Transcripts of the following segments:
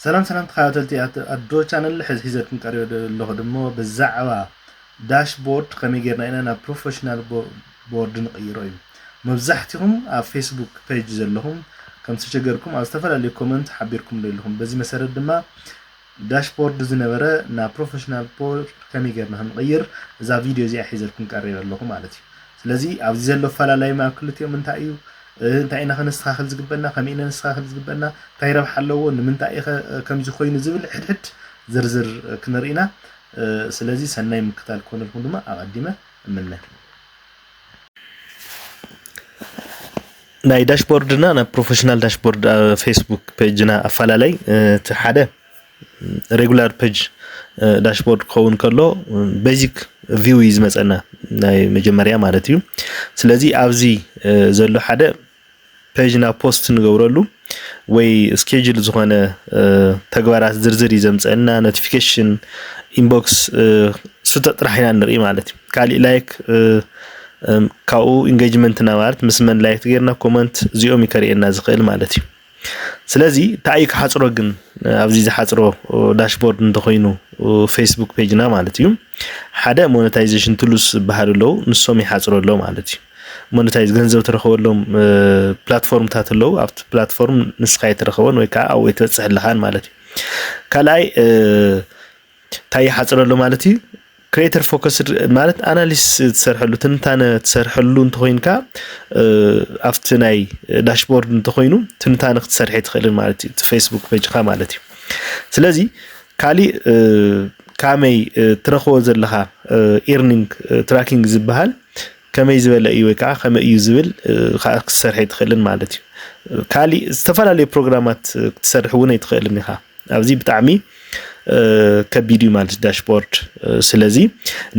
ሰላም ሰላም ተኸታተልቲ ኣዶ ቻነል ሕዚ ሒዘልኩም ቀሪበ ኣለኹ ድሞ ብዛዕባ ዳሽቦርድ ከመይ ጌርና ኢና ናብ ፕሮፌሽናል ቦርድ ንቕይሮ እዩ መብዛሕትኹም ኣብ ፌስቡክ ፔጅ ዘለኹም ከም ዝተሸገርኩም ኣብ ዝተፈላለዩ ኮመንት ሓቢርኩም ዶ ኣለኹም በዚ መሰረት ድማ ዳሽቦርድ ዝነበረ ናብ ፕሮፌሽናል ቦርድ ከመይ ጌርና ክንቕይር እዛ ቪድዮ እዚኣ ሒዘልኩም ቀሪበ ኣለኹ ማለት እዩ ስለዚ ኣብዚ ዘሎ ፈላላይም ኣብ ክልቲኦም እንታይ እዩ እንታይ ኢና ከነስተኻኽል ዝግበና፣ ከመይ ኢና ነስተኻኽል ዝግበና፣ እንታይ ረብሓ ኣለዎ፣ ንምንታይ ኢኸ ከምዚ ኮይኑ ዝብል ሕድሕድ ዝርዝር ክንርኢ ኢና። ስለዚ ሰናይ ምክታል ክኾነልኩም ድማ ኣቐዲመ እምነ። ናይ ዳሽቦርድና ናብ ፕሮፌሽናል ዳሽቦርድ ፌስቡክ ፔጅና ኣፈላለይ እቲ ሓደ ሬጉላር ፐጅ ዳሽቦርድ ክኸውን ከሎ ቤዚክ ቪው እዩ ዝመፀና ናይ መጀመርያ ማለት እዩ ስለዚ ኣብዚ ዘሎ ሓደ ፔጅና ፖስት ንገብረሉ ወይ ስኬጅል ዝኾነ ተግባራት ዝርዝር እዩ ዘምፀና ኖቲፊኬሽን ኢንቦክስ ስተ ጥራሕ ኢና ንርኢ ማለት እዩ ካሊእ ላይክ ካብኡ ኢንጌጅመንትና ማለት ምስ መን ላይክ ጌርና ኮመንት እዚኦም ይከርእየና ዝኽእል ማለት እዩ ስለዚ ታይ እዩ ክሓፅሮ ግን ኣብዚ ዝሓፅሮ ዳሽቦርድ እንተኾይኑ ፌስቡክ ፔጅና ማለት እዩ ሓደ ሞነታይዜሽን ቱሉስ ዝበሃሉ ኣለው ንሶም ይሓፅሮ ኣሎ ማለት እዩ ሞነታይዝ ገንዘብ ትረኽበሎም ፕላትፎርምታት ኣለዉ ኣብቲ ፕላትፎርም ንስኻ የተረኸበን ወይ ከዓ ኣብኡ የተበፅሐልኻን ማለት እዩ ካልኣይ ታይ ይሓፅር ኣሎ ማለት እዩ? ክሬተር ፎከስድ ማለት ኣናሊሲስ ትሰርሐሉ ትንታነ ትሰርሐሉ እንተኮይንካ ኣብቲ ናይ ዳሽቦርድ እንተኮይኑ ትንታነ ክትሰርሐ ትኽእልን ማለት እዩ ፌስቡክ ፔጅካ ማለት እዩ ስለዚ ካሊእ ካመይ ትረክቦ ዘለካ ኤርኒንግ ትራኪንግ ዝበሃል ከመይ ዝበለ እዩ ወይ ከዓ ከመይ እዩ ዝብል ከዓ ክትሰርሐ ትኽእልን ማለት እዩ ካሊእ ዝተፈላለዩ ፕሮግራማት ክትሰርሕ እውን ኣይትኽእልን ኢኻ ኣብዚ ብጣዕሚ ከቢድ እዩ ማለት ዳሽቦርድ ስለዚ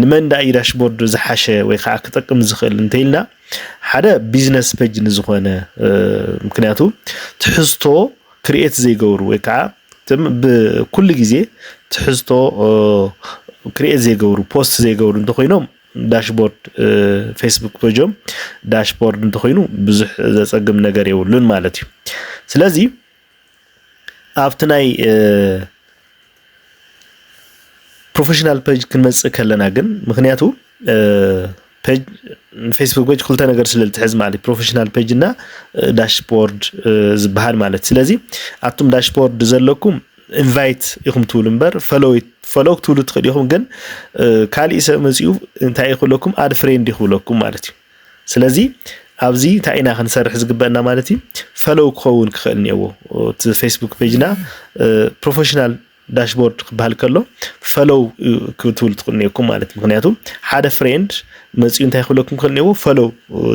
ንመን ዳ እዩ ዳሽቦርድ ዝሓሸ ወይ ከዓ ክጠቅም ዝኽእል እንተይልና ሓደ ቢዝነስ ፔጅ ንዝኾነ ምክንያቱ ትሕዝቶ ክርኤት ዘይገብሩ ወይ ከዓ ትም ብኩሉ ግዜ ትሕዝቶ ክርኤት ዘይገብሩ ፖስት ዘይገብሩ እንተኾይኖም ዳሽቦርድ ፌስቡክ ፔጆም ዳሽቦርድ እንተኾይኑ ብዙሕ ዘፀግም ነገር የብሉን ማለት እዩ ስለዚ ኣብቲ ናይ ፕሮፌሽናል ፔጅ ክንመፅእ ከለና ግን ምክንያቱ ፔጅ ፌስቡክ ፔጅ ክልተ ነገር ስለ ዝትሕዝ ማለት ፕሮፌሽናል ፔጅ እና ዳሽቦርድ ዝበሃል ማለት ስለዚ ኣቱም ዳሽቦርድ ዘለኩም ኢንቫይት ኢኹም ትብሉ እምበር ፈሎው ክትብሉ ትኽእል ኢኹም ግን ካሊእ ሰብ መፂኡ እንታይ ይኽብለኩም ኣድ ፍሬንድ ይኽብለኩም ማለት እዩ ስለዚ ኣብዚ እንታይ ኢና ክንሰርሕ ዝግበአና ማለት እዩ ፈለው ክኸውን ክኽእል እኒአዎ እቲ ፌስቡክ ፔጅና ፕሮፌሽናል ዳሽቦርድ ክበሃል ከሎ ፈለው ክትብሉ ትኽእሉ እኒአኩም ማለት እዩ ምክንያቱ ሓደ ፍሬንድ መፅኡ እንታይ ክብለኩም ክኽእል እኒአዎ ፈለው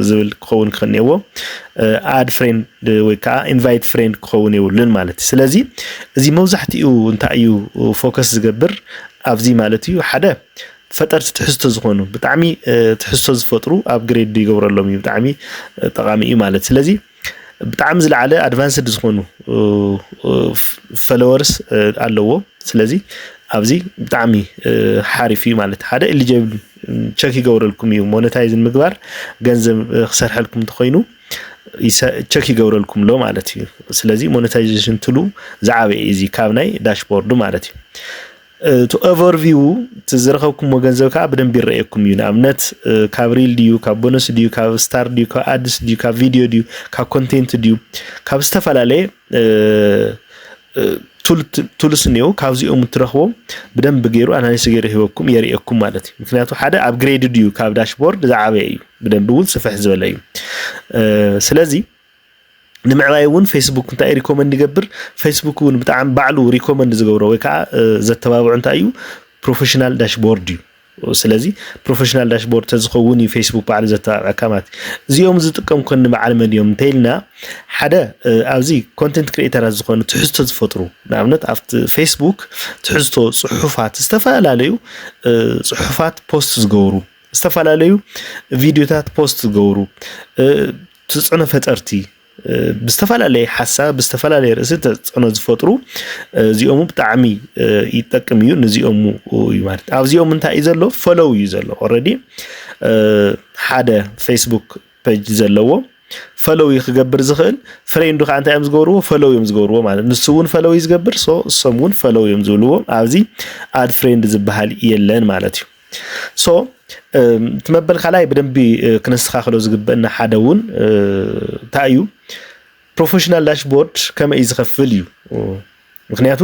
ዝብል ክኸውን ክኽእል እኒአዎ ኣድ ፍሬንድ ወይ ከዓ ኢንቫይት ፍሬንድ ክኸውን የብሉን ማለት እዩ ስለዚ እዚ መብዛሕትኡ እንታይ እዩ ፎከስ ዝገብር ኣብዚ ማለት እዩ ሓደ ፈጠርቲ ትሕዝቶ ዝኾኑ ብጣዕሚ ትሕዝቶ ዝፈጥሩ ኣብ ግሬድ ይገብረሎም እዩ ብጣዕሚ ጠቃሚ እዩ ማለት ስለዚ ብጣዕሚ ዝለዓለ ኣድቫንስድ ዝኾኑ ፈለወርስ ኣለዎ ስለዚ ኣብዚ ብጣዕሚ ሓሪፍ እዩ ማለት ሓደ ኤሊጀብል ቸክ ይገብረልኩም እዩ ሞነታይዝ ምግባር ገንዘብ ክሰርሐልኩም እንተኮይኑ ቸክ ይገብረልኩም ኣሎ ማለት እዩ ስለዚ ሞነታይዜሽን ትሉ ዝዓበየ እዚ ካብ ናይ ዳሽቦርዱ ማለት እዩ እቲ ኦቨርቪው እቲ ዝረኸብኩሞ ገንዘብ ከዓ ብደንብ ይረኣየኩም እዩ ንኣብነት ካብ ሪል ድዩ ካብ ቦነስ ድዩ ካብ ስታር ድዩ ካብ ኣድስ ድዩ ካብ ቪድዮ ድዩ ካብ ኮንቴንት ድዩ ካብ ዝተፈላለየ ቱልስ እኒው ካብዚኦም እትረኽቦ ብደንብ ገይሩ ኣናሊስ ገይሩ ሂበኩም የርእየኩም ማለት እዩ ምክንያቱ ሓደ ኣብ ግሬድ ድዩ ካብ ዳሽቦርድ ዝዓበየ እዩ ብደንብ እውን ስፍሕ ዝበለ እዩ ስለዚ ንምዕባይ እውን ፌስቡክ እንታይ እዩ ሪኮመንድ ይገብር? ፌስቡክ እውን ብጣዕሚ ባዕሉ ሪኮመንድ ዝገብሮ ወይ ከዓ ዘተባብዑ እንታይ እዩ ፕሮፌሽናል ዳሽቦርድ እዩ። ስለዚ ፕሮፌሽናል ዳሽቦርድ ተዝኸውን እዩ ፌስቡክ ባዕሉ ዘተባብዐካ ማለት እዩ እዚኦም ዝጥቀም ኮኒ በዓል መን እዮም እንተይልና ሓደ ኣብዚ ኮንቴንት ክሪኤተራት ዝኾኑ ትሕዝቶ ዝፈጥሩ ንኣብነት ኣብቲ ፌስቡክ ትሕዝቶ ፅሑፋት ዝተፈላለዩ ፅሑፋት ፖስት ዝገብሩ ዝተፈላለዩ ቪዲዮታት ፖስት ዝገብሩ ትጽዕኖ ፈጠርቲ ብዝተፈላለየ ሓሳብ ብዝተፈላለየ ርእሲ ተፅዕኖ ዝፈጥሩ እዚኦሙ ብጣዕሚ ይጠቅም እዩ ንዚኦሙ እዩ ማለት ኣብዚኦም እንታይ እዩ ዘሎ ፈለው እዩ ዘሎ ኦረዲ ሓደ ፌስቡክ ፔጅ ዘለዎ ፈለው እዩ ክገብር ዝኽእል ፍሬንዱ ከዓ እንታይ እዮም ዝገብርዎ ፈለው እዮም ዝገብርዎ ማለት ንሱ እውን ፈለው እዩ ዝገብር ሶ እሶም እውን ፈለው እዮም ዝብልዎ ኣብዚ ኣድ ፍሬንድ ዝበሃል የለን ማለት እዩ ሶ እቲ መበል ካልኣይ ብደንቢ ክነስተኻኽሎ ዝግበአና ሓደ እውን እንታይ እዩ ፕሮፌሽናል ዳሽቦርድ ከመይ እዩ ዝኸፍል እዩ ምክንያቱ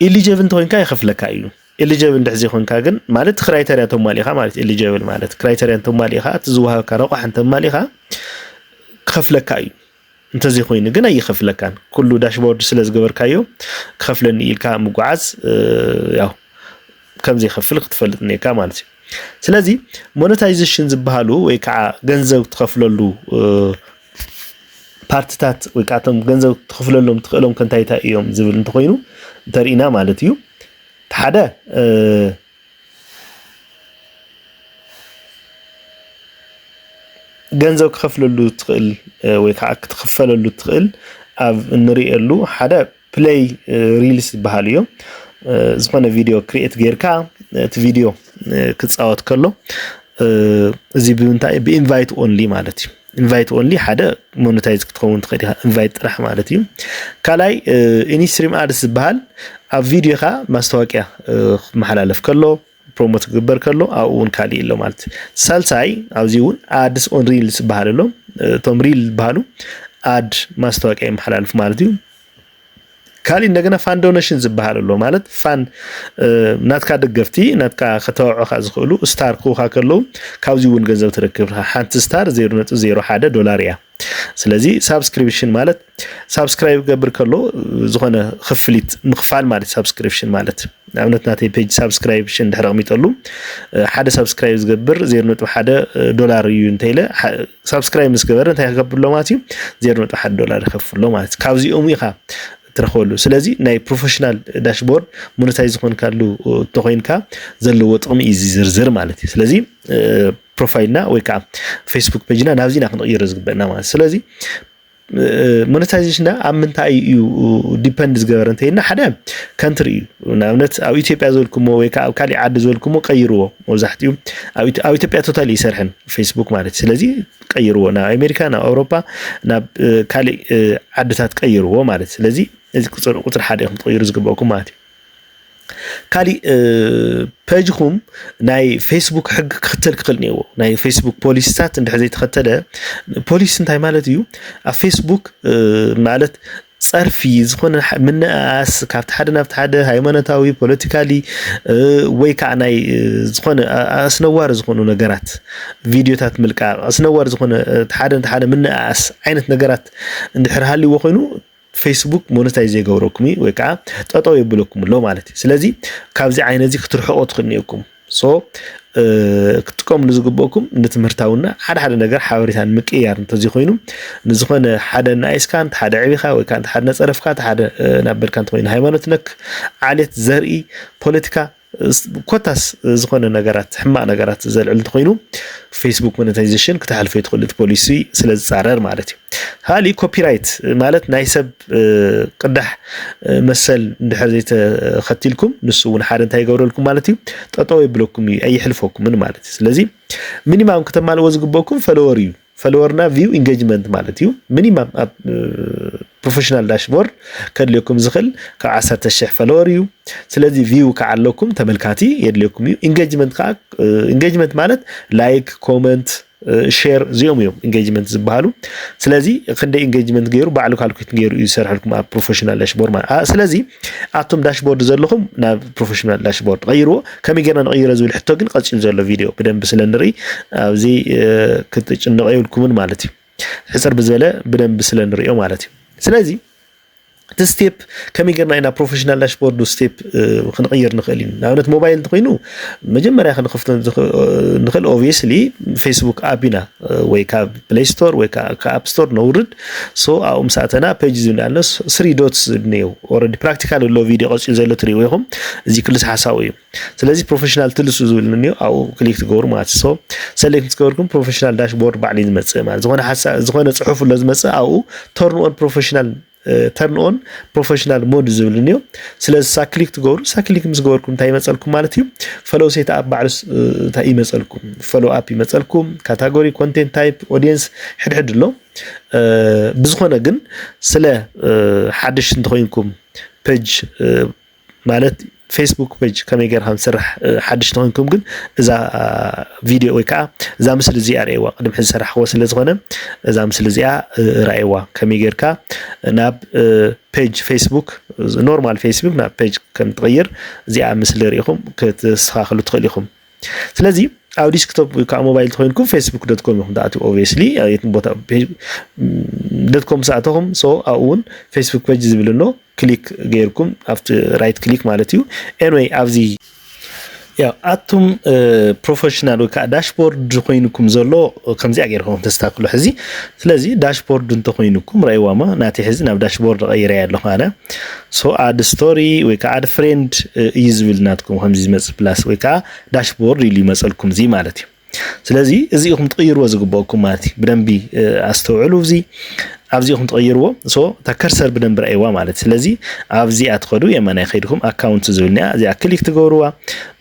ኤሊጀብል እንተኮይንካ ይኸፍለካ እዩ ኤሊጀብል እንድሕ ዘይኮንካ ግን ማለት ክራይተሪያ ተማሊእኻ ማለት ኤሊጀብል ማለት ክራይተሪያ እንተማሊእኻ እቲ ዝወሃበካ ረቋሕ እንተማሊእኻ ክኸፍለካ እዩ እንተዘይኮይኑ ግን ኣይኸፍለካን። ኩሉ ዳሽቦርድ ስለ ዝገበርካዮ ክኸፍለኒ ኢልካ ምጓዓዝ ያው ከም ዘይከፍል ክትፈልጥ እኒካ ማለት እዩ። ስለዚ ሞነታይዜሽን ዝበሃሉ ወይ ከዓ ገንዘብ ትኸፍለሉ ፓርትታት ወይ ከዓ እቶም ገንዘብ ትኽፍለሎም ትኽእሎም ከንታይታ እዮም ዝብል እንተኾይኑ እንተርኢና ማለት እዩ ሓደ ገንዘብ ክኸፍለሉ ትኽእል ወይ ከዓ ክትኽፈለሉ ትኽእል ኣብ እንሪእየሉ ሓደ ፕለይ ሪልስ ዝበሃል እዩ። ዝኾነ ቪድዮ ክሪኤት ጌርካ እቲ ቪድዮ ክፃወት ከሎ እዚ ብምንታይ ብኢንቫይት ኦንሊ ማለት እዩ። ኢንቫይት ኦንሊ ሓደ ሞነታይዝ ክትኸውን ትኽእል ኢኻ ኢንቫይት ጥራሕ ማለት እዩ ካልኣይ ኢንስትሪም ኣድስ ዝበሃል ኣብ ቪድዮኻ ማስታወቅያ ክመሓላለፍ ከሎ ፕሮሞት ክግበር ከሎ ኣብኡ እውን ካሊእ ኣሎ ማለት እዩ ሳልሳይ ኣብዚ እውን ኣድስ ኦን ሪል ዝበሃል ኣሎ እቶም ሪል ዝበሃሉ ኣድ ማስታወቅያ ይመሓላለፍ ማለት እዩ ካሊእ እንደገና ፋን ዶነሽን ዝበሃል ኣሎ ማለት ፋን ናትካ ደገፍቲ ናትካ ከተባብዑካ ዝኽእሉ ስታር ክውካ ከለዉ ካብዚ እውን ገንዘብ ትረክብ ሓንቲ ስታር 0.01 ዶላር እያ ስለዚ ሳብስክሪፕሽን ማለት ሳብስክራይብ ገብር ከሎ ዝኾነ ክፍሊት ምኽፋል ማለት ሳብስክሪፕሽን ማለት ንኣብነት ናተይ ፔጅ ሳብስክራይብሽን ድሕሪ ኣቕሚጠሉ ሓደ ሳብስክራይብ ዝገብር 0.1 ዶላር እዩ እንተኢለ ሳብስክራይብ ምስ ገበረ እንታይ ክገብር ኣሎ ማለት እዩ ዜሮ ነጥቢ ሓደ ዶላር ይኸፍሎ ማለት እዩ ካብዚኦም ኢኻ ትረኽበሉ ስለዚ ናይ ፕሮፌሽናል ዳሽቦርድ ሞነታይ ዝኾንካሉ እንተኮይንካ ዘለዎ ጥቕሚ እዩ ዝዝርዝር ማለት እዩ ስለዚ ፕሮፋይልና ወይ ከዓ ፌስቡክ ፔጅና ናብዚና ክንቕይሮ ዝግበአና ማለት ስለዚ ሞነታይዜሽና ኣብ ምንታይ እዩ ዲፐንድ ዝገበረ እንተይልና ሓደ ከንትሪ እዩ ንኣብነት ኣብ ኢትዮጵያ ዘልኩሞ ወይ ከዓ ኣብ ካሊእ ዓዲ ዘልኩሞ ቀይርዎ መብዛሕትኡ ኣብ ኢትዮጵያ ቶታል ይሰርሐን ፌስቡክ ማለት ስለዚ ቀይርዎ ናብ ኣሜሪካ ናብ ኣውሮፓ ናብ ካሊእ ዓድታት ቀይርዎ ማለት ስለዚ እዚ ቁፅሪ ሓደ ኢኹም ትቕይሩ ዝግበእኩም ማለት እዩ ካሊእ ፐጅኹም ናይ ፌስቡክ ሕጊ ክኽተል ክኽእል እኒአዎ ናይ ፌስቡክ ፖሊሲታት እንድሕር ዘይተኸተለ ፖሊሲ እንታይ ማለት እዩ ኣብ ፌስቡክ ማለት ጸርፊ ዝኾነ ምንእኣስ ካብቲ ሓደ ናብቲ ሓደ ሃይማኖታዊ ፖለቲካሊ ወይ ከዓ ናይ ዝኾነ ኣስነዋሪ ዝኾኑ ነገራት ቪድዮታት ምልቃቕ ኣስነዋሪ ዝኾነ ሓደ ሓደ ምንእኣስ ዓይነት ነገራት እንድሕር ሃልዎ ኮይኑ ፌስቡክ ሞነታይዝ የገብረኩም እዩ ወይ ከዓ ጠጠው የብለኩም ኣሎ ማለት እዩ ስለዚ ካብዚ ዓይነት እዚ ክትርሕቆ ትኽእሉ እኒኩም ሶ ክትጥቀምሉ ዝግበእኩም ንትምህርታውና ሓደ ሓደ ነገር ሓበሬታ ንምቅያር እንተዘይኮይኑ ንዝኾነ ሓደ ናይስካ እንተ ሓደ ዕቢኻ ወይ ከዓ እንተ ሓደ ነፀረፍካ እንተ ሓደ ናበልካ እንተኮይኑ ሃይማኖት ነክ ዓሌት ዘርኢ ፖለቲካ ኮታስ ዝኾነ ነገራት ሕማቅ ነገራት ዘልዕል እንተኾይኑ ፌስቡክ ሞኔታይዜሽን ክተሓልፎ ይትኽእሉ እቲ ፖሊሲ ስለ ዝፃረር ማለት እዩ ካሊእ ኮፒራይት ማለት ናይ ሰብ ቅዳሕ መሰል እንድሕር ዘይተኸቲልኩም ንሱ እውን ሓደ እንታይ ይገብረልኩም ማለት እዩ ጠጠው የብለኩም እዩ ኣይሕልፈኩምን ማለት እዩ ስለዚ ሚኒማም ክተማልእዎ ዝግበኩም ፈለወር እዩ ፈለወርና ቪው ኢንጌጅመንት ማለት እዩ ሚኒማም ኣብ ፕሮፌሽናል ዳሽቦርድ ከድልየኩም ዝኽእል ካብ ዓሰርተ ሽሕ ፈለወር እዩ ስለዚ ቪው ከዓ ኣለኩም ተመልካቲ የድልየኩም እዩ ኢንጌጅመንት ከዓ ኢንጌጅመንት ማለት ላይክ ኮመንት ሼር እዚኦም እዮም ኢንጌጅመንት ዝበሃሉ ስለዚ ክንደይ ኢንጌጅመንት ገይሩ ባዕሉ ካልኩት ገይሩ እዩ ዝሰርሐልኩም ኣብ ፕሮፌሽናል ዳሽቦርድ ማለት ስለዚ ኣቱም ዳሽቦርድ ዘለኹም ናብ ፕሮፌሽናል ዳሽቦርድ ቀይርዎ። ከመይ ጌርና ንቐይሮ ዝብል ሕቶ ግን ቀፂሉ ዘሎ ቪድዮ ብደንብ ስለ ንርኢ ኣብዚ ክትጭንቐ የብልኩምን ማለት እዩ። ሕፅር ብዝበለ ብደንብ ስለ ንሪኦ ማለት እዩ። ስለዚ እቲ ስቴፕ ከመይ ጌርና ኢና ፕሮፌሽናል ዳሽቦርድ ስቴፕ ክንቕይር ንኽእል እዩ። ንኣብነት ሞባይል እንተኮይኑ መጀመርያ ክንኸፍቶ ንኽእል ኦብቪየስሊ ፌስቡክ ኣፕ ኢና ወይ ካብ ፕለይ ስቶር ወይ ከዓ ከኣፕ ስቶር ነውርድ ሶ ኣብኡ ምስ ኣተና ፔጅ ዝብል ኣሎ ስሪ ዶትስ ዝብል እኒአው ኦልሬዲ ፕራክቲካል ኣሎ ቪድዮ ቀፂሉ ዘሎ ትሪእዎ ኢኹም እዚ ክልስ ሓሳቡ እዩ ስለዚ ፕሮፌሽናል ትልሱ ዝብል እኒኦ ኣብኡ ክሊክ ትገብሩ ማለት ሶ ሰሌክት ምስ ገበርኩም ፕሮፌሽናል ዳሽቦርድ ባዕሉ እዩ ዝመፅእ ማለት ዝኾነ ሓሳብ ዝኾነ ፅሑፍ ኣሎ ዝመፅእ ኣብኡ ተርን ኦን ፕሮፌሽናል ተርን ኦን ፕሮፌሽናል ሞድ ዝብል እንዮ ስለዚ ሳክሊክ ትገብሩ ሳክሊክ ምስ ገበርኩም እንታይ ይመፀልኩም ማለት እዩ ፈሎ ሴት ኣፕ ባዕሉ እንታይ ይመፀልኩም ፈሎ ኣፕ ይመፀልኩም ካታጎሪ ኮንቴንት ታይፕ ኦዲየንስ ሕድሕድ ኣሎ ብዝኾነ ግን ስለ ሓድሽ እንተኮይንኩም ፔጅ ማለት ፌስቡክ ፔጅ ከመይ ጌርካ ንስራሕ ሓድሽ ተኮንኩም ግን እዛ ቪድዮ ወይ ከዓ እዛ ምስሊ እዚኣ ርእዋ ቅድም ሕዚ ሰራሕክዎ ስለ ዝኾነ እዛ ምስሊ እዚኣ ራእዋ ከመይ ጌርካ ናብ ፔጅ ፌስቡክ ኖርማል ፌስቡክ ናብ ፔጅ ከም ትቕይር እዚኣ ምስሊ ርኢኹም ክትስተኻኽሉ ትኽእል ኢኹም ስለዚ ኣብ ዲስክቶፕ ወይ ከዓ ሞባይል ተኮይንኩም ፌስቡክ ዶት ኮም ኢኹም ትኣትው ኦብስሊ የትም ቦታ ዶት ኮም ሰኣተኹም ሶ ኣብኡ እውን ፌስቡክ ፔጅ ዝብል ኣሎ ክሊክ ገይርኩም ኣብቲ ራይት ክሊክ ማለት እዩ ኤንወይ ኣብዚ ያው ኣቱም ፕሮፌሽናል ወይ ከዓ ዳሽቦርድ ኮይንኩም ዘሎ ከምዚኣ ገይርኩም ተስተካክሉ ሕዚ ስለዚ ዳሽቦርድ እንተኾይኑኩም ረኣይዋማ ናተይ ሕዚ ናብ ዳሽቦርድ ቀይረያ ኣለኹ ኣነ ሶ ኣድ ስቶሪ ወይ ከዓ ኣድ ፍሬንድ እዩ ዝብል ናትኩም ከምዚ ዝመጽእ ፕላስ ወይ ከዓ ዳሽቦርድ ኢሉ ይመጸልኩም እዚ ማለት እዩ ስለዚ እዚ ኢኹም ትቕይርዎ ዝግበኣኩም ማለት እዩ ብደንቢ ኣስተውዕሉ እዚ ኣብዚ ኢኹም ትቐይርዎ ሶ እታ ከርሰር ብደንቢ ረኣይዋ ማለት ስለዚ ኣብዚኣ ትኸዱ የማናይ ከይድኩም ኣካውንት ዝብልኒያ እዚኣ ክሊክ ትገብርዋ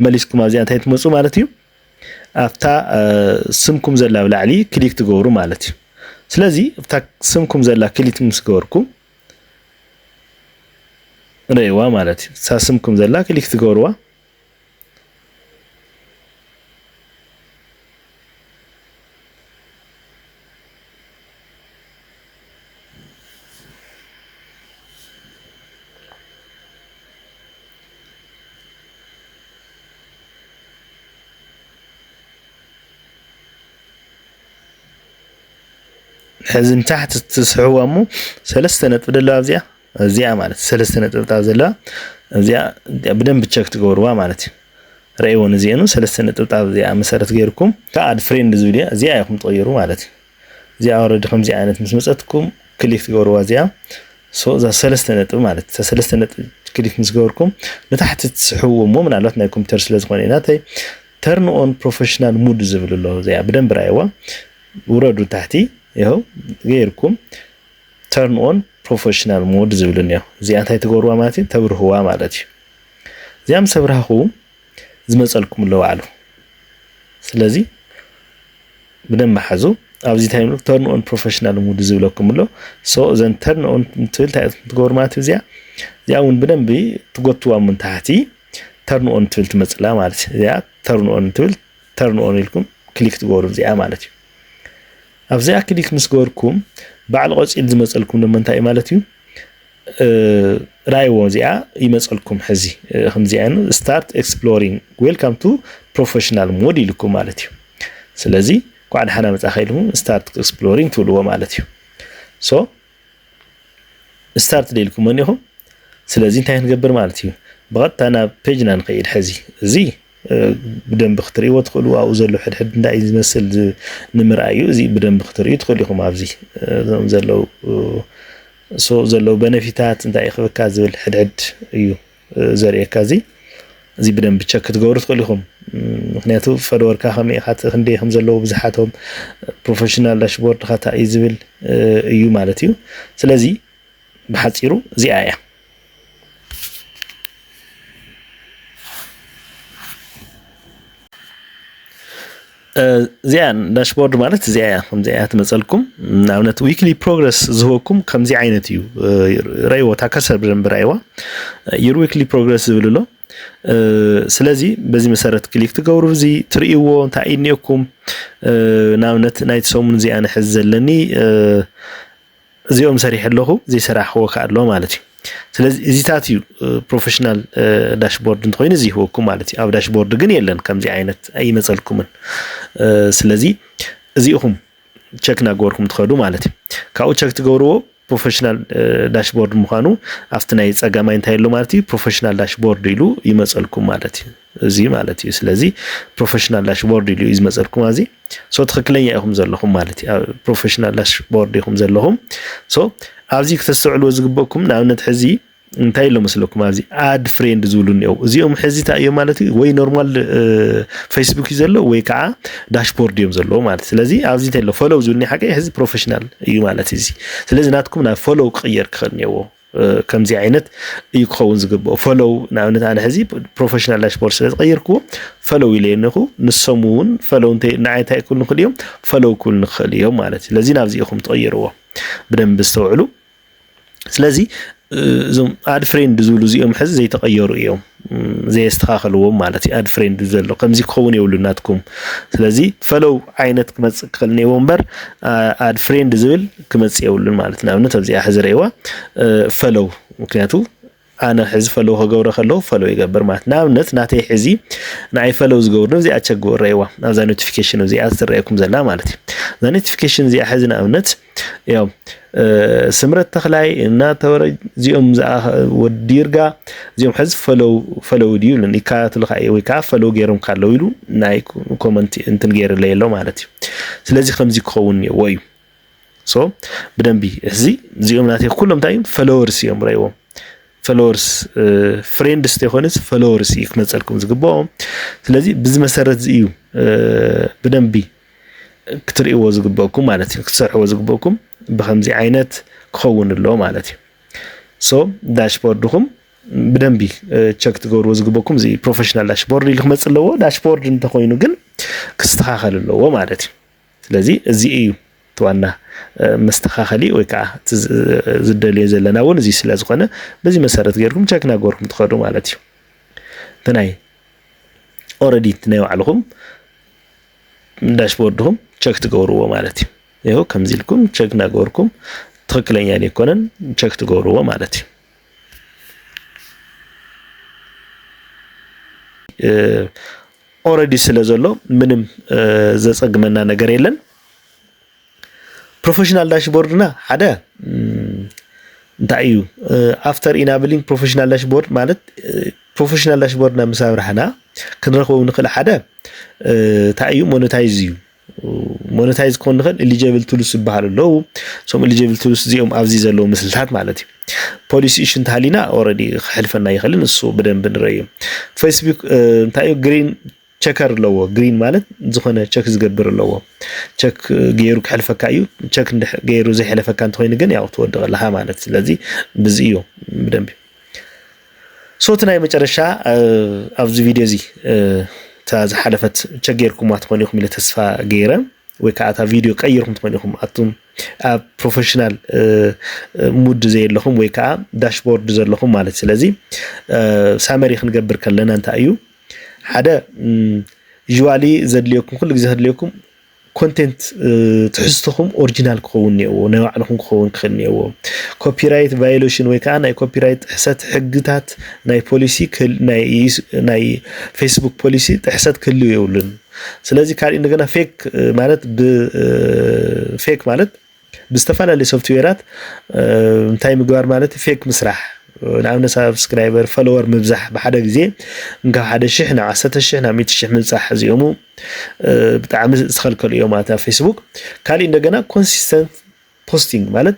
መሊስኩም ኣብዚኣ እንታይ ትመፁ ማለት እዩ ኣብታ ስምኩም ዘላ ኣብ ላዕሊ ክሊክ ትገብሩ ማለት እዩ ስለዚ ኣብታ ስምኩም ዘላ ክሊክ ምስ ገበርኩም ረይዋ ማለት እዩ እሳ ስምኩም ዘላ ክሊክ ትገብርዋ ሕዚ ንታሕቲ ትስሕዋ እሞ ሰለስተ ነጥቢ ደለዋ እዚኣ እዚኣ ማለት ሰለስተ ነጥብታት ዘለዋ እዚኣ ብደንብ ቸክ ትገብርዋ ማለት እዩ ረእይዎን እዚአኑ ሰለስተ ነጥብታት እዚኣ መሰረት ገይርኩም ከኣድ ፍሬንድ ዝብል እዚኣ ኢኹም ትቕይሩ ማለት እዩ እዚኣ ኦረዲ ከምዚኣ ዓይነት ምስ መጸትኩም ክሊክ ትገብርዋ እዚኣ ሶ እዛ ሰለስተ ነጥቢ ማለት እዛ ሰለስተ ነጥቢ ክሊክ ምስ ገበርኩም ንታሕቲ ትስሕብዎ እሞ ምናልባት ናይ ኮምፒውተር ስለ ዝኾነ ኢና ተይ ተርን ኦን ፕሮፌሽናል ሙድ ዝብል ኣሎ እዚኣ ብደንብ ራይዋ ውረዱ ታሕቲ ይኸው ገይርኩም ተርን ኦን ፕሮፌሽናል ሞድ ዝብል እኒኦ እዚኣ እንታይ ትገብርዋ ማለት እዩ ተብርህዋ ማለት እዩ እዚኣ ምስ ኣብርሃኹም ዝመጸልኩም ኣሎ ባዕሉ ስለዚ ብደንብ ሓዙ ኣብዚ እንታይ ይብሉ ተርን ኦን ፕሮፌሽናል ሙድ ዝብለኩም ኣሎ ሶ እዘን ተርን ኦን ትብል እንታይ ትገብሩ ማለት እዚያ እዚያ እውን ብደንብ ትጎትዋ ምን ታሕቲ ተርን ኦን ትብል ትመፅላ ማለት እዩ እዚያ ተርን ኦን ትብል ተርን ኦን ኢልኩም ክሊክ ትገብሩ እዚኣ ማለት እዩ ኣብዚኣ ክሊክ ምስ ገበርኩም ባዕሉ ቆፂል ዝመፀልኩም ዶ እንታይ ማለት እዩ ራይዎ እዚኣ ይመፀልኩም ሕዚ ከምዚኣ ስታርት ኤክስፕሎሪንግ ዌልካም ቱ ፕሮፌሽናል ሞድ ኢልኩም ማለት እዩ ስለዚ ኳዕ ደሓና መፃኸ ኢልኩም ስታርት ኤክስፕሎሪንግ ትብልዎ ማለት እዩ ሶ ስታርት ደኢልኩም መኒኹም ስለዚ እንታይ ክንገብር ማለት እዩ ብቐጥታ ናብ ፔጅና ንኸይድ ሕዚ እዚ ብደንብ ክትርእይዎ ትኽእሉ ኣብኡ ዘሎ ሕድሕድ እንታይ እዩ ዝመስል ንምርኣዩ እዚ ብደንብ ክትርእዩ ትኽእሉ ኢኹም ኣብዚ ዘለዉ so ዘለው በነፊታት እንታይ እዩ ክብካ ዝብል ሕድሕድ እዩ ዘርእየካ እዚ እዚ ብደንብ ቸክ ክትገብሩ ትኽእሉ ኢኹም ምክንያቱ ፈለወርካ ከመይ ኢኻ ክንደይ ከም ዘለዎ ብዝሓቶም ፕሮፌሽናል ዳሽቦርድካ እንታይ እዩ ዝብል እዩ ማለት እዩ ስለዚ ብሓፂሩ እዚኣ እያ እዚኣ ዳሽቦርድ ማለት እዚኣ እያ ከምዚ እያ ትመፀልኩም ንኣብነት ዊክሊ ፕሮግረስ ዝህበኩም ከምዚ ዓይነት እዩ ረይዎ እታ ከርሰር ብደንብ ረይዋ ዩር ዊክሊ ፕሮግረስ ዝብል ኣሎ ስለዚ በዚ መሰረት ክሊክ ትገብሩ እዚ ትርእይዎ እንታይ እዩ እኒኦኩም ንኣብነት ናይቲ ሰሙን እዚኣ ንሕዚ ዘለኒ እዚኦም ሰሪሐ ኣለኹ ዘይሰራሕክዎ ከ ኣሎ ማለት እዩ ስለዚ እዚታት እዩ ፕሮፌሽናል ዳሽቦርድ እንተኮይኑ እዚ ይህወኩም ማለት እዩ ኣብ ዳሽቦርድ ግን የለን ከምዚ ዓይነት ኣይመፀልኩምን ስለዚ እዚ ኢኹም ቸክ እናገበርኩም ትኸዱ ማለት እዩ ካብኡ ቸክ ትገብርዎ ፕሮፌሽናል ዳሽቦርድ ምዃኑ ኣብቲ ናይ ፀጋማይ እንታይ ኣሎ ማለት እዩ ፕሮፌሽናል ዳሽቦርድ ኢሉ ይመፀልኩም ማለት እዩ እዚ ማለት እዩ ስለዚ ፕሮፌሽናል ዳሽቦርድ ኢሉ እዩ ዝመፀልኩም ኣዚ ሶ ትክክለኛ ኢኹም ዘለኹም ማለት እዩ። ኣብ ፕሮፌሽናል ዳሽቦርድ ኢኹም ዘለኹም። ሶ ኣብዚ ክተስተውዕልዎ ዝግበኩም ንኣብነት ሕዚ እንታይ ኢሎ መስለኩም ኣብዚ ኣድ ፍሬንድ ዝብሉ እኒኦ እዚኦም ሕዚ እንታይ እዮም ማለት እዩ ወይ ኖርማል ፌስቡክ እዩ ዘሎ ወይ ከዓ ዳሽቦርድ እዮም ዘለዎ ማለት ስለዚ ኣብዚ እንታይ ኢሎ ፎሎው ዝብልኒ ሓቂ ሕዚ ፕሮፌሽናል እዩ ማለት እዚ ስለዚ ናትኩም ናብ ፎሎው ክቅየር ክኽእል እኒኦዎ ከምዚ ዓይነት እዩ ክኸውን ዝግብኦ ፈለው ንኣብነት ኣነ ሕዚ ፕሮፌሽናል ዳሽቦርድ ስለ ዝቀይርክዎ ፈለው ኢለ ነኹ ንሶም እውን ፈለው እንተ ንዓይ እንታይ ክብሉ ንኽእል እዮም ፈለው ክብሉ ንኽእል እዮም ማለት እዩ ስለዚ ናብዚ ኢኹም ትቐይርዎ ብደንብ ዝተውዕሉ ስለዚ እዞም ኣድ ፍሬንድ ዝብሉ እዚኦም ሕዚ ዘይተቐየሩ እዮም ዘየስተኻኸልዎም ማለት እዩ። ኣድ ፍሬንድ ዘሎ ከምዚ ክኸውን የብሉ ናትኩም። ስለዚ ፈለው ዓይነት ክመጽእ ክኽእል እኒኤዎ እምበር ኣድ ፍሬንድ ዝብል ክመጽእ የብሉን ማለት ንኣብነት ኣብዚኣ ሕዚ ረእዋ ፈለው ምክንያቱ ኣነ ሕዚ ፈለው ከገብረ ከለዉ ፈለው ይገብር ማለት ንኣብነት ናተይ ሕዚ ንኣይ ፈለው ዝገብሩ እዚኣ ቸግበ ረእዋ ኣብዛ ኖቲፊኬሽን እዚኣ ዝትረእየኩም ዘላ ማለት እዩ። እዛ ኖቲፊኬሽን እዚኣ ሕዚ ንኣብነት እዮም ስምረት ተክላይ እና ተወረ እዚኦም ወዲ ይርጋ እዚኦም ሕዚ ፈለው ፈለው ድዩ ለን ይከታተሉካ እዩ ወይ ከዓ ፈለው ገይሮም ካለው ኢሉ ናይ ኮመንት እንትን ገይርለይ ኣሎ ማለት እዩ ስለዚ ከምዚ ክኸውን እኒኦዎ እዩ ሶ ብደንቢ እዚ እዚኦም ናተይ ኩሎም እንታይ እዮም ፈለወርስ እዮም ረእዎም ፈለወርስ ፍሬንድስ ተይኮነስ ፈለወርስ እዩ ክመፀልኩም ዝግብኦም ስለዚ ብዚ መሰረት እዚ እዩ ብደንቢ ክትርእይዎ ዝግበእኩም ማለት እዩ ክትሰርሕዎ ዝግበእኩም ብከምዚ ዓይነት ክኸውን ኣሎ ማለት እዩ ሶ ዳሽቦርድኹም ብደንቢ ቸክ ትገብርዎ ዝግበኩም እዚ ፕሮፌሽናል ዳሽቦርድ ኢሉ ክመፅእ ኣለዎ ዳሽቦርድ እንተኮይኑ ግን ክስተኻኸል ኣለዎ ማለት እዩ ስለዚ እዚ እዩ ዋና መስተኻኸሊ ወይ ከዓ ዝደልዮ ዘለና እውን እዚ ስለ ዝኾነ በዚ መሰረት ገይርኩም ቸክ ናገርኩም ትኸዱ ማለት እዩ እንተናይ ኦረዲ ናይ ባዕልኹም ዳሽቦርድኹም ቸክ ትገብርዎ ማለት እዩ ይኸው ከምዚ ኢልኩም ቸክ እናገበርኩም ትኽክለኛ ዘይኮነን ቸክ ትገብርዎ ማለት እዩ ኦረዲ ስለ ዘሎ ምንም ዘፀግመና ነገር የለን ፕሮፌሽናል ዳሽቦርድና ሓደ እንታይ እዩ ኣፍተር ኢናብሊንግ ፕሮፌሽናል ዳሽቦርድ ማለት ፕሮፌሽናል ዳሽቦርድና ምስ ኣብራህና ክንረክቦ ንክእል ሓደ እንታይ እዩ ሞነታይዝ እዩ ሞነታይዝ ክኾን ንኽእል ኤሊጀብል ቱልስ ዝበሃሉ ኣለዉ እሶም ኤሊጀብል ቱልስ እዚኦም ኣብዚ ዘለዉ ምስልታት ማለት እዩ ፖሊሲ እሽ እንተሃሊና ኦረዲ ክሕልፈና ይኽእልን እሱ ብደንብ ንረዩ ፌስቡክ እንታይ እዩ ግሪን ቸከር ኣለዎ ግሪን ማለት ዝኾነ ቸክ ዝገብር ኣለዎ ቸክ ገይሩ ክሕልፈካ እዩ ቸክ ገይሩ ዘይሕለፈካ እንተኮይኑ ግን ያው ትወድቕ ኣለካ ማለት ስለዚ ብዚ እዩ ብደንቢ ሶቲ ናይ መጨረሻ ኣብዚ ቪድዮ እዚ እታ ዝሓለፈት ቸክ ገይርኩማ ትኾኑ ኢኹም ኢለ ተስፋ ገይረ ወይ ከዓ እታ ቪድዮ ቀይርኩም ትኾኑ ኢኹም ኣቱም ኣብ ፕሮፌሽናል ሙድ ዘየለኹም ወይ ከዓ ዳሽቦርድ ዘለኹም ማለት ስለዚ ሳመሪ ክንገብር ከለና እንታይ እዩ ሓደ ዩዥዋሊ ዘድልየኩም ኩሉ ግዜ ከድልየኩም ኮንቴንት ትሕዝትኹም ኦሪጂናል ክኸውን እኒኦዎ ናይ ባዕልኹም ክኸውን ክኽእል እኒኦዎ ኮፒራይት ቫዮሌሽን ወይ ከዓ ናይ ኮፒራይት ጥሕሰት ሕግታት ናይ ፖሊሲ ናይ ፌስቡክ ፖሊሲ ጥሕሰት ክህልው የብሉን ስለዚህ ካልእ እንደገና ፌክ ማለት ብፌክ ማለት ብዝተፈላለዩ ሶፍትዌራት እንታይ ምግባር ማለት ፌክ ምስራሕ ንኣብነት ሳብስክራይበር ፈለወር ምብዛሕ ብሓደ ግዜ ካብ ሓደ ሽሕ ናብ ዓሰርተ ሽሕ ናብ ሚእቲ ሽሕ ምብፃሕ እዚኦሙ ብጣዕሚ ዝተኸልከሉ እዮም ማለት ኣብ ፌስቡክ ካሊእ እንደገና ኮንሲስተንት ፖስቲንግ ማለት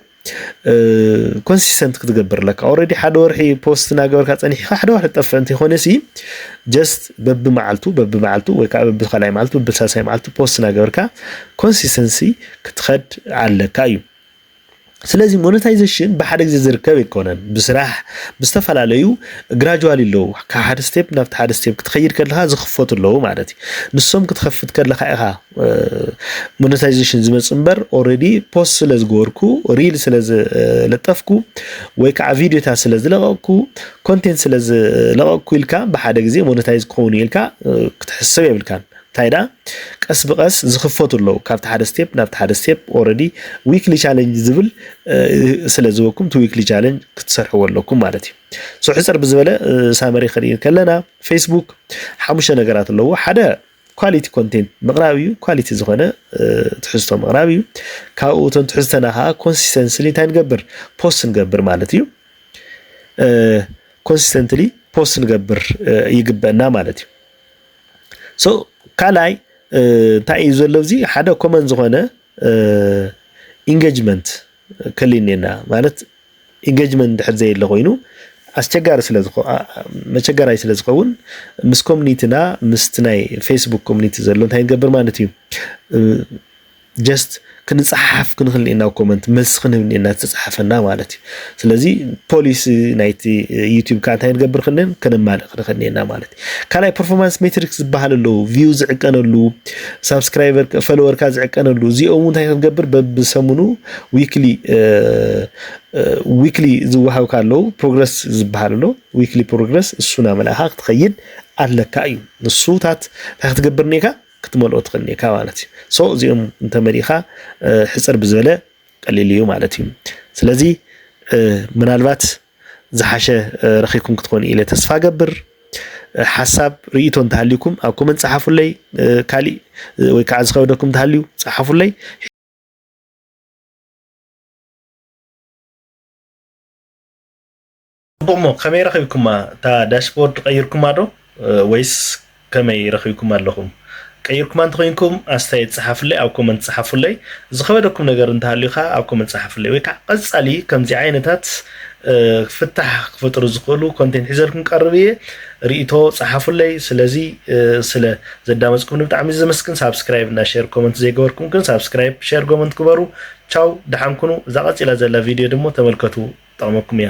ኮንሲስተንት ክትገብር ኣለካ ኦልሬዲ ሓደ ወርሒ ፖስት እናገበርካ ፀኒሕካ ሓደ ወርሒ ጠፍእ እንተይኮነ ሲ ጀስት በቢ መዓልቱ በቢ መዓልቱ ወይ ከዓ በቢ ካልኣይ መዓልቱ በቢ ሳልሳይ መዓልቱ ፖስት እናገበርካ ኮንሲስተንሲ ክትኸድ ኣለካ እዩ ስለዚ ሞነታይዜሽን ብሓደ ግዜ ዝርከብ ኣይኮነን ብስራሕ ብዝተፈላለዩ ግራጅዋል ኣለዉ ካብ ሓደ ስቴፕ ናብቲ ሓደ ስቴፕ ክትኸይድ ከለካ ዝኽፈቱ ኣለዉ ማለት እዩ ንሶም ክትኸፍት ከለካ ኢኻ ሞነታይዜሽን ዝመፅ እምበር ኦልሬዲ ፖስት ስለ ዝገበርኩ ሪል ስለ ዝለጠፍኩ ወይ ከዓ ቪዲዮታት ስለ ዝለቐቕኩ ኮንቴንት ስለ ዝለቐቕኩ ኢልካ ብሓደ ግዜ ሞነታይዝ ክኸውን ኢልካ ክትሕሰብ የብልካን ታይ ደኣ ቀስ ብቀስ ዝክፈቱ ኣለዉ ካብቲ ሓደ ስቴፕ ናብቲ ሓደ ስቴፕ ኦረዲ ዊክሊ ቻለንጅ ዝብል ስለ ዝበኩም እቲ ዊክሊ ቻለንጅ ክትሰርሕዎ ኣለኩም ማለት እዩ ሶ ሕፅር ብዝበለ ሳመሪ ክንርኢ ከለና ፌስቡክ ሓሙሽተ ነገራት ኣለዎ ሓደ ኳሊቲ ኮንቴንት ምቕራብ እዩ ኳሊቲ ዝኾነ ትሕዝቶ ምቕራብ እዩ ካብኡ እቶም ትሕዝተና ከዓ ኮንሲስተንስሊ እንታይ ንገብር ፖስት ንገብር ማለት እዩ ኮንሲስተንትሊ ፖስት ንገብር ይግበና ማለት እዩ ሶ ካልኣይ እንታይ እዩ ዘሎ እዚ ሓደ ኮመን ዝኾነ ኢንጌጅመንት ከልዩ እኔና ማለት ኢንጌጅመንት ድሕር ዘየለ ኮይኑ ኣስቸጋሪ ስለ መቸገራይ ስለ ዝኸውን ምስ ኮሚኒቲና ምስቲ ናይ ፌስቡክ ኮሚኒቲ ዘሎ እንታይ ንገብር ማለት እዩ ጀስት ክንጸሓሓፍ ክንክእል ኢና ኮመንት መልሲ ክንህብ እኒኤና ዝተጻሓፈና ማለት እዩ ስለዚ ፖሊሲ ናይቲ ዩቲዩብ ከዓ እንታይ ንገብር ክንል ከነማልእ ክንክእል እኒኤና ማለት እዩ ካልኣይ ፐርፎርማንስ ሜትሪክስ ዝበሃል ኣለዉ ቪው ዝዕቀነሉ ሳብስክራይበር ፈለወርካ ዝዕቀነሉ እዚኦም እውን እንታይ ክንገብር በብሰሙኑ ዊክሊ ዊክሊ ዝወሃብካ ኣለዉ ፕሮግረስ ዝበሃል ኣሎ ዊክሊ ፕሮግረስ እሱና መላእካ ክትኸይድ ኣለካ እዩ ንሱታት እንታይ ክትገብር እኒካ ክትመልኦ ትኽእል ኔካ ማለት እዩ ሶ እዚኦም እንተመሊእኻ ሕፅር ብዝበለ ቀሊል እዩ ማለት እዩ ስለዚ ምናልባት ዝሓሸ ረኺብኩም ክትኾኑ ኢለ ተስፋ ገብር ሓሳብ ርእቶ እንተሃልዩኩም ኣብ ኮመንት ፀሓፉለይ ካሊእ ወይ ከዓ ዝኸበደኩም እንተሃልዩ ፀሓፉለይ ጽቡቕ እሞ ከመይ ረኺብኩማ እታ ዳሽቦርድ ቀይርኩማ ዶ ወይስ ከመይ ረኺብኩማ ኣለኹም ቀይርኩማ እንተኾይንኩም ኣስተያየት ጸሓፉለይ ኣብ ኮመንት ጸሓፉለይ ዝኸበደኩም ነገር እንተሃልዩ ከኣ ኣብ ኮመንት ጸሓፉለይ ወይ ከኣ ቀጻሊ ከምዚ ዓይነታት ፍታሕ ክፈጥሩ ዝኽእሉ ኮንቴንት ሒዘልኩም ቀርብ እየ ርእይቶ ጸሓፉለይ ስለዚ ስለ ዘዳመጽኩም ብጣዕሚ ዘመስግን ሳብስክራይብ እና ሼር ኮመንት ዘይገበርኩም ግን ሳብስክራይብ ሼር ኮመንት ግበሩ ቻው ደሓን ኩኑ እዛ ቀጺላ ዘላ ቪድዮ ድሞ ተመልከቱ ጠቕመኩም እያ